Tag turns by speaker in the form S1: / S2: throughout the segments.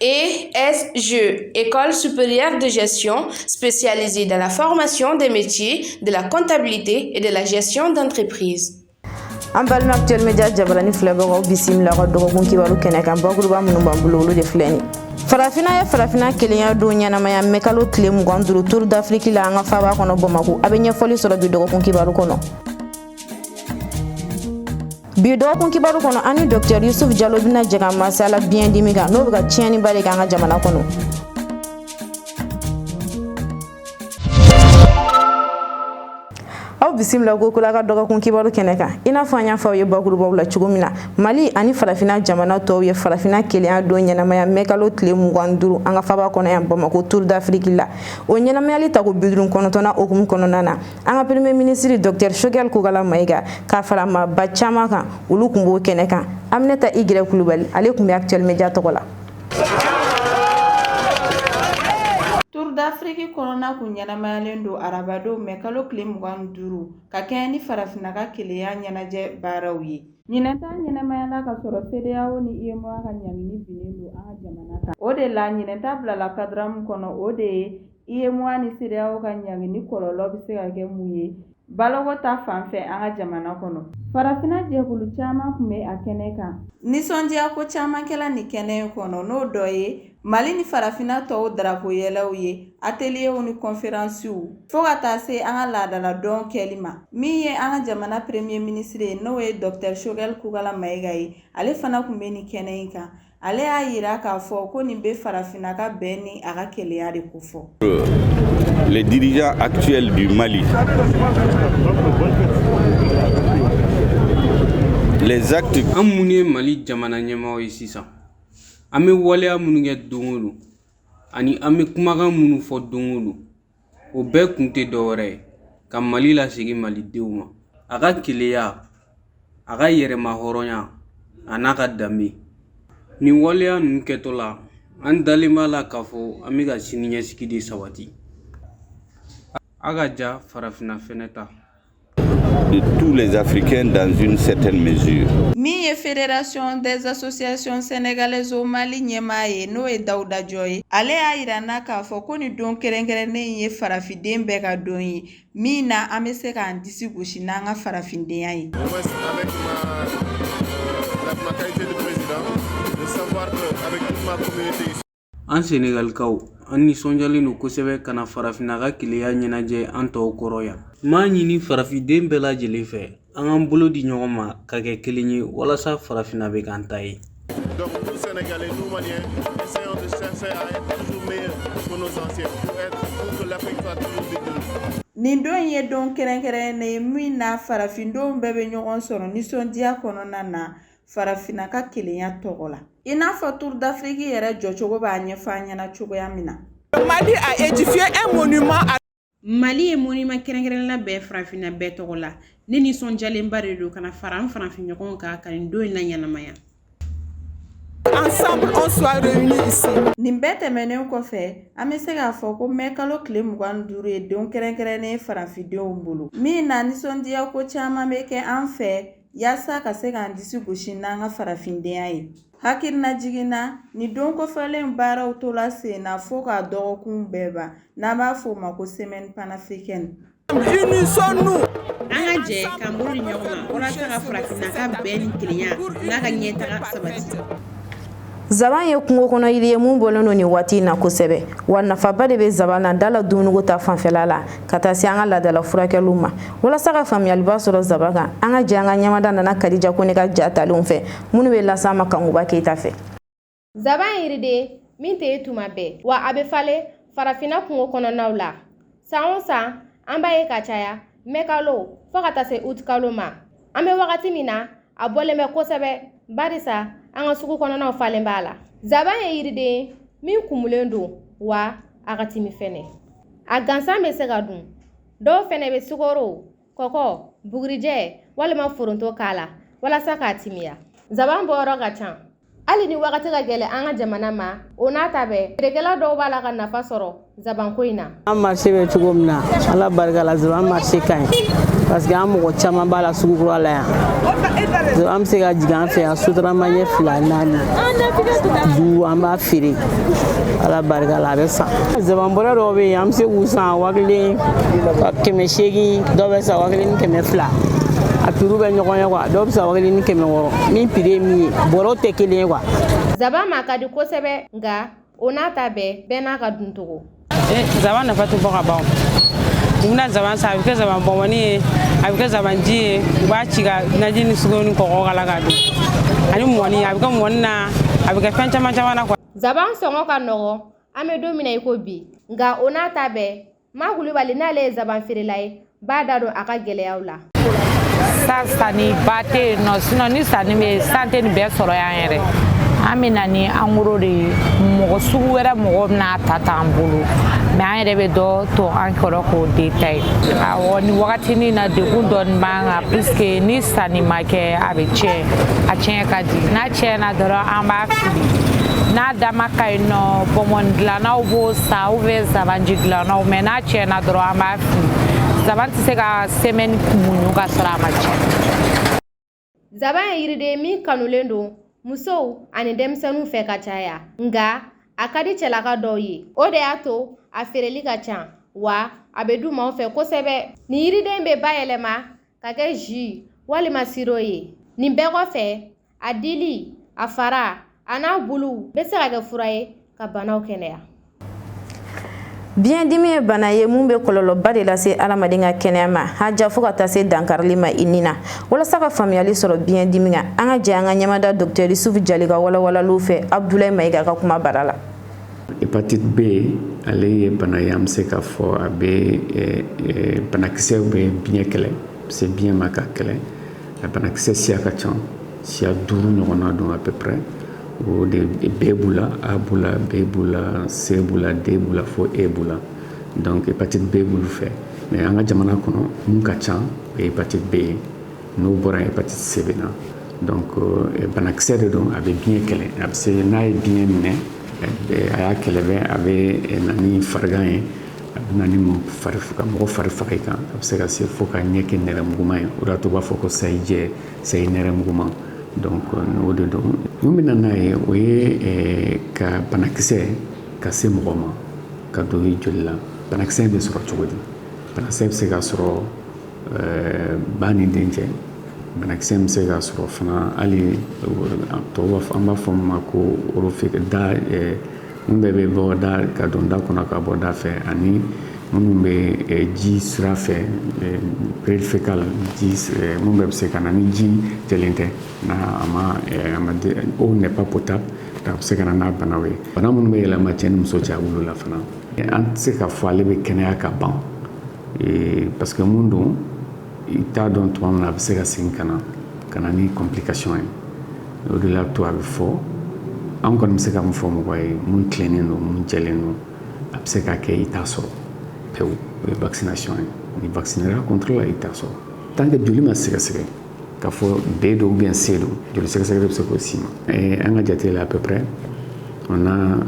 S1: ESG, École supérieure de gestion spécialisée dans la formation des métiers de la comptabilité et de la gestion d'entreprise. an balima
S2: actuel média jabarani filɛbagaw bisimila ka dɔgɔkun kibaru kɛnɛ kan bakuruba minnu b'an bolo olu de filɛ nin farafina ye farafina kelenya don ɲɛnamaya mɛ kalo tile mugan duru tour d'Afrique la an ka faaba kɔnɔ bamako a bɛ ɲɛfɔli sɔrɔ bi dɔgɔkun kibaru kɔnɔ bi dɔgɔkun kibaru kɔnɔ ani dɔktɛr yusuf jalo bɛna jɛ ka masala biɲɛ dimi kan n'o bɛ ka tiɲɛniba de kɛ an ka jamana kɔnɔ aw bisimila kokura ka dɔgɔkun kibaru kɛnɛ kan i n'a fɔ an y'a fɔ aw ye bakurubaw la cogo min na mali ani farafina jamana tɔw ye farafina kelenya don ɲɛnamaya mɛkalo tile mugan duru an ka faaba kɔnɔ yan bamako tour d'Afrique la o ɲɛnamayali tako biduuru kɔnɔntɔnnan o hukumu kɔnɔna na an ka premier minisiri docteur Choguel Kokalla Maïga ka fara maaba caman kan olu kun b'o kɛnɛ kan aminata Y kulubali ale kun bɛ actuel média tɔgɔ la
S3: tour d'Afrique kɔnɔna kun ɲɛnamayalen don arabadon mɛ kalo tile mugan duuru ka kɛɲɛ ni farafinna ka kelenya ɲɛnajɛ baaraw ye ɲinɛn ta ɲɛnamayala ka sɔrɔ CEDEAO ni UEMOA ka ɲangini binnen don an ka jamana kan o de la ɲinɛn ta bilala cadre min kɔnɔ o de ye UEMOA ni CEDEAO ka ɲangini kɔlɔlɔ bɛ se ka kɛ mun ye baloko ta fan fɛ an ka jamana kɔnɔ? Farafinna jɛkulu caman kun bɛ a kɛnɛ kan. Nisɔndiya ko caman kɛla nin kɛnɛ in kɔnɔ, n'o dɔ ye Mali ni Farafinna tɔw darapo yɛlɛw ye, ateliyew ni kɔnferansiw, fo ka taa se an ka laadala dɔn kɛli ma. Min ye an ka jamana Premier Ministre ye, n'o ye Docteur Choguel Kokalla Maïga ye, ale fana kun bɛ nin kɛnɛ in kan. ale y'a yira k'a fɔ ko nin bɛ farafinna ka bɛn ni a ka keleya de kofɔ les dirigeants
S4: actuels du Mali les actes an minnu ye
S5: Mali jamana ɲɛmaaw ye sisan an bɛ waleya minnu kɛ don o don ani an bɛ kumakan minnu fɔ don o don o bɛɛ kun tɛ dɔwɛrɛ ye ka mali lasegin malidenw ma a ka keleya a ka yɛrɛma hɔrɔnya a n'a ka danbe nin waleya ninnu kɛtɔ la an dalen b'a la k'a fɔ an bɛ ka siniɲɛsigi de sabati a ka ja farafinna fɛnɛ ta
S4: de tous les Africains dans une certaine mesure. Min ye
S3: Fédération des associations sénégalaises au Mali ɲɛmaa ye n'o ye Dawuda Jɔ ye, ale y'a yira an na k'a fɔ ko nin don kɛrɛnkɛrɛnnen ye farafinden bɛɛ ka don ye min na an bɛ se k'an disi gosi n'an ka farafindenya ye.
S5: An Senegalikaw, an nisɔndiyalen don kosɛbɛ ka na farafinna ka kelenya ɲɛnajɛ an tɔw kɔrɔ yan. N b'a ɲini farafinden bɛɛ lajɛlen fɛ, an k'an bolo di ɲɔgɔn ma ka kɛ kelen ye walasa farafinna bɛ k'an ta ye. Donc, nous
S6: Sénégalais, nous Maliens, essayons de chercher à être toujours meilleurs que nos anciens, pour être, pour que l'Afrique soit toujours victorieuse. Nin don in ye don
S3: kɛrɛnkɛrɛnnen ye min na farafindenw bɛɛ bɛ ɲɔgɔn sɔrɔ nisɔndiya kɔnɔna na. farafinna ka kelenya tɔgɔ la i n'a fɔ tour d'afrique yɛrɛ jɔcogo b'a ɲɛfɔ an ɲɛna cogoya min na mali a
S7: édifié un monument à mali ye monima
S8: kɛrɛnkɛrɛn labɛn farafinna bɛɛ tɔgɔ la ne nisɔndiyalenba de don ka na fara an farafinɲɔgɔn kan ka nin don in laɲɛnamaya
S7: ensemble on soit réunis ici. Nin bɛɛ
S3: tɛmɛnen kɔfɛ, an bɛ se k'a fɔ ko mɛ kalo tile mugan ni duuru ye don kɛrɛnkɛrɛnnen ye farafindenw bolo. Min na nisɔndiya ko caman bɛ kɛ an fɛ yaasa ka se k'an disi gosi n'an ka farafindenya ye hakilinajigin na nin don kofɔlen baaraw tola sen na fo ka dɔgɔkun bɛɛ ban n'an b'a fɔ o ma ko semaine panafricaine
S7: an
S8: ka jɛ k'an bolo di ɲɔgɔn ma walasa ka farafinna ka bɛn ni kelenya n'a ka ɲɛtaga sabati
S2: Zaban ye kungo kɔnɔ yiri ye mun bɔlen don nin waati in na kosɛbɛ wa nafaba de bɛ zaban na dala dumuniko ta fanfɛla la ka taa se an ka laadala furakɛliw ma walasa ka faamuyaliba sɔrɔ zaban kan an ka jɛ an ka ɲɛmada nana kadija kone ka ja talenw fɛ minnu bɛ las'an ma kankuba keyita fɛ zaban
S9: yiriden min tɛ ye tuma bɛɛ wa a bɛ falen farafinna kungo kɔnɔnaw la san o san an b'a ye ka caya mɛkalo fo ka taa se utikalo ma an bɛ wagati min na a bɔlen bɛ kosɛbɛ barisa an ka sugu kɔnɔnaw falen b'a la zaban ye yiriden ye min kumulen don wa a ka timi fɛnɛ a gansan bɛ se ka dun dɔw fɛnɛ bɛ sukoro kɔkɔ bugurijɛ walima foronto k'a la walasa k'a timiya zaban bɔyɔrɔ ka ca hali ni wagati ka gɛlɛn an ka jamana ma o n'a ta bɛɛ feerekɛla dɔw b'a la ka nafa sɔrɔ zabanko in na an marché bɛ cogo
S10: min na ala barika la zaban marché ka ɲi parce que an mɔgɔ caman b'a la sugu kura la yan an bɛ se ka jigin an fɛ yan sotarama ɲɛ fila naani duuru an b'a feere ala barika la a bɛ san zaban bɔrɛ dɔw bɛ yen an bɛ se k'u san waa kelen kɛmɛ seegin dɔw bɛ san waa kelen ni kɛmɛ fila a prix bɛ ɲɔgɔn ye quoi dɔw bɛ san waa kelen ni kɛmɛ wɔɔrɔ min prix ye min ye bɔrɔw tɛ kelen ye quoi zaban ma
S9: ka di kosɛbɛ nka o n'a ta bɛɛ bɛɛ n'a ka duncogo eh, zaban nafa
S10: tɛ fɔ ka ban u bɛna zaban san a bɛ kɛ zaban bɔnbɔni ye a bɛ kɛ zaban ji ye u b'a ci ka naji ni sukoro ni kɔgɔ k'a la k'a dun ani mɔni a bɛ kɛ mɔni na a bɛ kɛ fɛn caman caman na quoi zaban sɔngɔ ka
S9: nɔgɔn an bɛ don min na i ko bi nka o n'a ta bɛɛ Ma kulubali n'ale ye zaban feerela ye b'a da don a ka gɛlɛyaw la
S11: san sanni ba tɛ yen nɔ sinɔn ni sanni bɛ san tɛ nin bɛɛ sɔrɔ yan yɛrɛ an bɛ na ni angoro de ye mɔgɔ sugu wɛrɛ mɔgɔ bɛna ta t'an bolo mɛ an yɛrɛ bɛ dɔ to an kɔrɔ k'o detaye awɔ nin wagatinin na degun dɔɔni b'an kan puisque ni sanni ma kɛ a bɛ tiɲɛ a tiɲɛ ka di tiɲɛna dɔrɔn an b'a fili n'a dama ka ɲi nɔ bɔnbɔn dilannaw b'o san ou bien zabanji dilannaw mɛ n'a tiɲɛna dɔrɔn an b'a fili zaban tɛ se ka sɛmɛni muɲu ka sɔrɔ a ma tiɲɛ
S9: zaban ye yiriden min kanulen don musow ani denmisɛnninw fɛ ka caya nka a ka di cɛlaka dɔw ye o de y'a to a feereli ka ca wa a bɛ dun maaw fɛ kosɛbɛ nin yiriden bɛ bayɛlɛma ka kɛ jus walima siro ye nin bɛɛ kɔfɛ a dili a fara an'a bulu bɛ se ka kɛ fura ye ka banaw kɛnɛya Biɲɛ
S2: dimi ye bana ye mun bɛ kɔlɔlɔba de lase adamaden ka kɛnɛya ma haja fo ka taa se dankarili ma i ni na walasa ka faamuyali sɔrɔ biɲɛ dimi kan an ka jɛ an ka ɲɛmada dɔkitɛri Yusufu jali ka walawalaliw fɛ abudulayi mayiga ka kumabara la
S12: hépatite B ale ye bana ye an bɛ se k'a fɔ a bɛ banakisɛw bɛ biɲɛ kɛlɛ se biɲɛ ma k'a kɛlɛ a banakisɛ siya ka ca siya duuru ɲɔgɔnna don à peu près o de B b'u la A b'u la B b'u la C b'u la D b'u la fo E b'u la donc hépatite B b'olu fɛ mɛ an ka jamana kɔnɔ mun ka ca o ye hépatite B ye n'o bɔra hépatite C bɛ na donc banakisɛ de don a bɛ biɲɛ kɛlɛ a bɛ se n'a ye biɲɛ minɛ eh, a y'a kɛlɛ bɛ a bɛ eh, na ni farigan ye a bɛ na ni ka mɔgɔ fari faga i kan a bɛ se ka se fo ka ɲɛ kɛ nɛrɛmuguma ye o de y'a to u b'a fɔ ko sayi jɛ sayi nɛrɛmuguma donc o de don mun bɛ na n'a ye o ye ka banakisɛ ka se mɔgɔ ma ka don i joli la banakisɛ in bɛ sɔrɔ cogo di banakisɛ bɛ se ka sɔrɔ Ɛɛ ba ni den cɛ banakisɛ bɛ se ka sɔrɔ fana hali tɔw b'a fɔ an b'a fɔ min ma ko mun bɛɛ bɛ bɔ da ka don da kɔnɔ ka bɔ da fɛ ani minnu bɛ ji sira fɛ péril fécal minnu bɛɛ bɛ se ka na ni ji jɛlen tɛ n'a a ma eau n'est pas potable a bɛ se ka na n'a bana ye bana minnu bɛ yɛlɛma cɛ ni muso cɛ a b'olu la fana an tɛ se k'a fɔ ale bɛ kɛnɛya ka ban ee parce que mun don i t'a dɔn tuma min na a bɛ se ka segin ka na ka na ni complication ye o de l'a to a bɛ fɔ an kɔni bɛ se ka mun fɔ mɔgɔ ye mun tilennen don mun jɛlen don a bɛ se ka kɛ i t'a sɔrɔ pewu o ye vaccination ye n'i vaccinera contre la i t'a sɔrɔ tant que joli ma sɛgɛsɛgɛ K'a fɔ B don ou bien C don joli sɛgɛsɛgɛ de bɛ se k'o si ma an ka jate la à peu près on a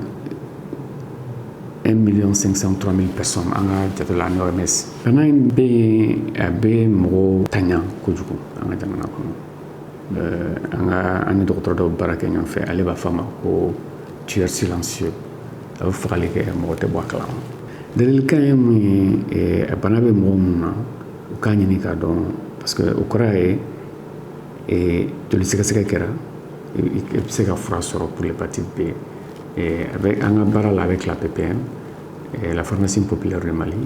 S12: un million cinq cent trois mille personnes an ka jate la ni OMS bana in bɛ yen a bɛ mɔgɔw taɲa kojugu an ka jamana kɔnɔ an ni dɔgɔtɔrɔ dɔw baara kɛ ɲɔgɔn fɛ ale b'a fɔ a ma ko tueur silencieux a bɛ fagali kɛ mɔgɔ tɛ bɔ a kalama ladilikan ye mun ye a bana bɛ mɔgɔ minnu na u k'a ɲini k'a dɔn parce que o kɔrɔ ye eh, joli sɛgɛsɛgɛ kɛra i bɛ se ka fura sɔrɔ pour l'hépatite B eh, avec an ka baara la avec la PPM eh, la pharmacie populaire du Mali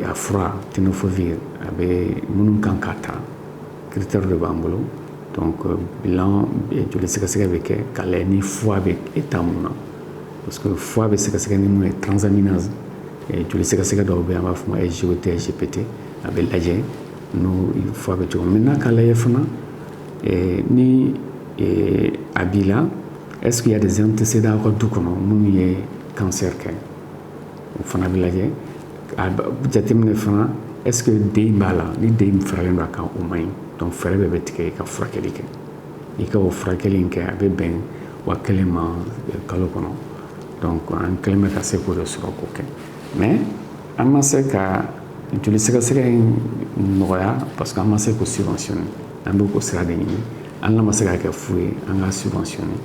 S12: a fura tenofovir a bɛ minnu kan k'a ta critère de b'an bolo donc euh, bilan joli sɛgɛsɛgɛ bɛ kɛ k'a lajɛ ni foie bɛ état mun na parce que foie bɛ sɛgɛsɛgɛ ni mun ye transaminase Joli sɛgɛsɛgɛ dɔw bɛ yen an b'a fɔ o ma SGOT SGPT a bɛ lajɛ n'i foie bɛ cogo min na k'a lajɛ fana ni a b'i la est ce qu'il y a des antécédents aw ka du kɔnɔ minnu ye cancer kɛ o fana bɛ lajɛ a jateminɛ fana est ce que D b'a la ni D faralen don a kan o man ɲi donc fɛɛrɛ bɛɛ bɛ tigɛ i ka furakɛli kɛ. i ka o furakɛli in kɛ a bɛ bɛn waa kelen ma kalo kɔnɔ donc an kɛlen bɛ ka se k'o de sɔrɔ k'o kɛ mais an ma se ka joli sɛgɛsɛgɛ in nɔgɔya parce que an ma se k'o subventionner an bɛ k'o sira de ɲini n'an ma se k'a kɛ fu ye an k'a subventionner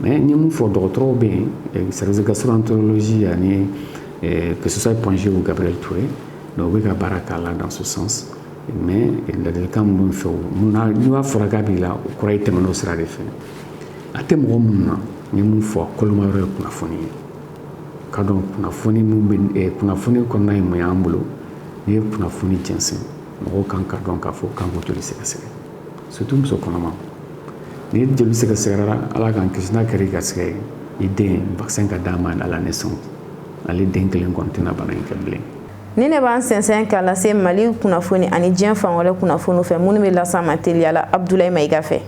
S12: mais n ye min fɔ dɔgɔtɔrɔw bɛ yen service de gastroentérologie ani que ce soit Point G ou Gabriel Touré donc u bɛ ka baara k'a la dans ce sens mais ladilikan min bɛ n fɛ mun na n'a fɔra k'a b'i la o kɔrɔ ye tɛmɛn'o sira de fɛ a tɛ mɔgɔ minnu na n ye mun fɔ kolomayɔrɔ ye kunnafoni ye ka dɔn kunnafoni min bɛ eh, kunnafoni kɔnɔna ye mun y'an bolo n'i ye kunnafoni jɛnsɛn mɔgɔw kan k'a dɔn k'a fɔ k'an k'u joli sɛgɛsɛgɛ surtout muso kɔnɔma n'i joli sɛgɛsɛgɛra ala k'an kisi n'a kɛra i garisɛgɛ ye i den vaccin ka d'a ma à la naissance ale den kelen kɔni tɛna bana in kɛ bilen Nin de
S2: b'an sɛnsɛn k'an lase mali kunnafoni ani diɲɛ fan wɛrɛ kunnafoni fɛ minnu bɛ las'aw ma teliya la Abudulayi Mayiga fɛ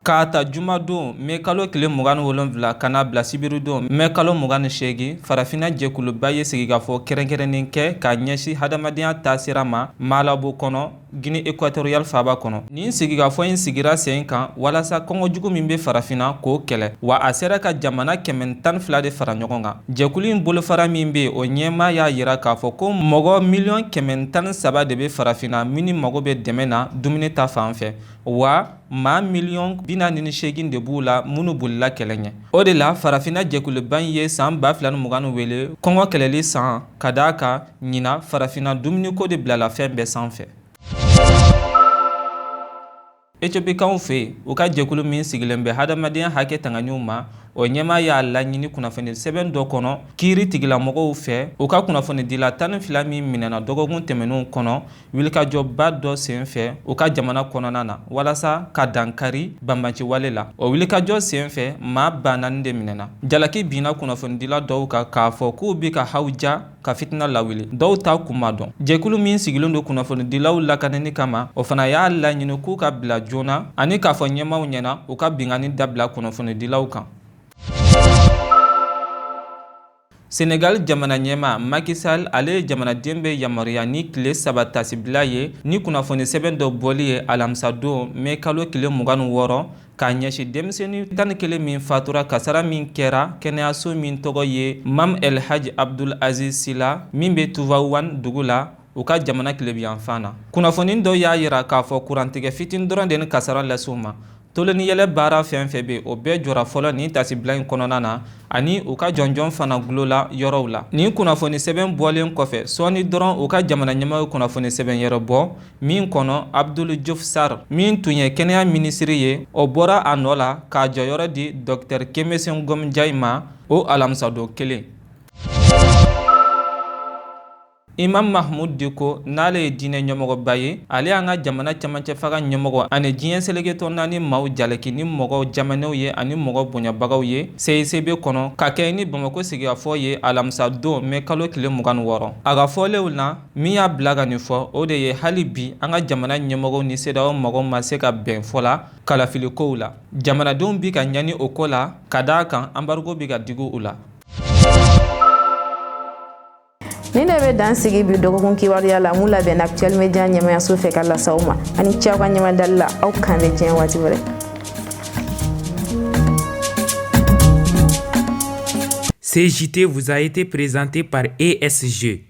S13: k'a ta jumadon mɛ kalo tile mugan ni wolonwula ka n'a bila sibiridon mɛ kalo mugan ni seegin farafinna jɛkuluba ye sigikafɔ kɛrɛnkɛrɛnnen kɛ k'a ɲɛsin hadamadenya taasira ma Malabo kɔnɔ Guinée équatoriale faaba kɔnɔ nin sigikafɔ in sigira sen kan walasa kɔngɔ jugu min bɛ farafinna k'o kɛlɛ wa a sera ka jamana kɛmɛ tan fila de fara ɲɔgɔn kan jɛkulu in bolofara min bɛ o ɲɛmaa y'a yira k'a fɔ ko mɔgɔ miliyɔn kɛmɛ tan saba de bɛ farafinna minnu mago bɛ dɛmɛ na dumuni ta fan fɛ wa maa miliyɔn bi naani ni seegin de b'u la minnu bolila kɛlɛ ɲɛ o de la farafinna jɛkuluba in ye san ba fila ni mugan wele kɔngɔ kɛlɛli san ka d'a kan ɲinan farafinna dumuniko de bilala fɛn bɛɛ sanfɛ etiopikaw fɛ yen u ka jɛkulu min sigilen bɛ hadamadenya hakɛ tanganiw ma o ɲɛmaa y'a laɲini kunnafoni sɛbɛn dɔ kɔnɔ kiiri tigilamɔgɔw fɛ u ka kunnafonidila tan ni fila min minɛna dɔgɔkun tɛmɛnenw kɔnɔ wulikajɔba dɔ sen fɛ u ka jamana kɔnɔna na walasa ka dankari banbaanciwale la o wulikajɔ sen fɛ maa ba naani de minɛna jalaki binna kunnafonidila dɔw kan k'a fɔ k'u bi ka hawuja ka fitina lawuli dɔw ta kun ma dɔn jɛkulu min sigilen don kunnafonidilaw lakanani kama o fana y'a laɲini k'u ka bila joona ani k'a fɔ ɲɛmaaw ɲɛna u ka binkanni dabila kunnafonidilaw kan Senegal jamana ɲɛmaa Macky Sall ale ye jamanaden bɛɛ yamaruya ni tile saba taasibila ye ni kunnafoni sɛbɛn dɔ bɔli ye alamisa don mɛ kalo tile mugan ni wɔɔrɔ k'a ɲɛsin denmisɛnnin tan ni kelen min fatura kasara min kɛra kɛnɛyaso min tɔgɔ ye mam el haji abdul aziz sy la min bɛ tivaouane dugu la u ka jamana tilebiyanfan na kunnafoni dɔ y'a yira k'a fɔ kurantigɛ fitinin dɔrɔn de nin kasara las'u ma tulon ni yɛlɛ baara fɛn fɛn bɛ o bɛɛ jɔra fɔlɔ nin taasibila in kɔnɔna na ani u ka jɔnjɔn fana gulo la yɔrɔw la nin kunnafoni sɛbɛn bɔlen kɔfɛ sɔɔni dɔrɔn u ka jamana ɲɛmɔgɔ ye kunnafoni sɛbɛn wɛrɛ bɔ min kɔnɔ abdul diouf sarr min tun ye kɛnɛya minisiri ye o bɔra a nɔ la k'a jɔyɔrɔ di dɔktɛr khemesse ngom ndiaye ma o alamisadon kelen imam mahmud diko n'ale ye diinɛ ɲɛmɔgɔba ye ale y'an ka jamana cɛmancɛ fanga ɲɛmɔgɔw ani diɲɛ seleke tɔ naani maaw jalaki ni mɔgɔ jamanɛw ye ani mɔgɔ bonyabagaw ye cicb kɔnɔ ka kɛɲɛ ni bamako sigikafɔ ye alamisa don mɛ kalo tile mugan ni wɔɔrɔ a ka fɔlenw na min y'a bila ka nin fɔ o de ye hali bi an ka jamana ɲɛmɔgɔw ni sedeyawo mɔgɔw ma se ka bɛn fɔlɔ kalafilikow la jamanadenw bi ka ɲani o ko la ka d'a kan anbarigo bi ka digi u la
S2: nin de bɛ dan sigi bi dɔgɔkun kibaruya la min labɛnna actuel media ɲɛmaayaso fɛ ka las'aw ma a ni ce aw ka ɲɛmadali la aw k'an bɛn diɲɛ waati
S14: wɛrɛ Ce JT vous a été présenté par ESG.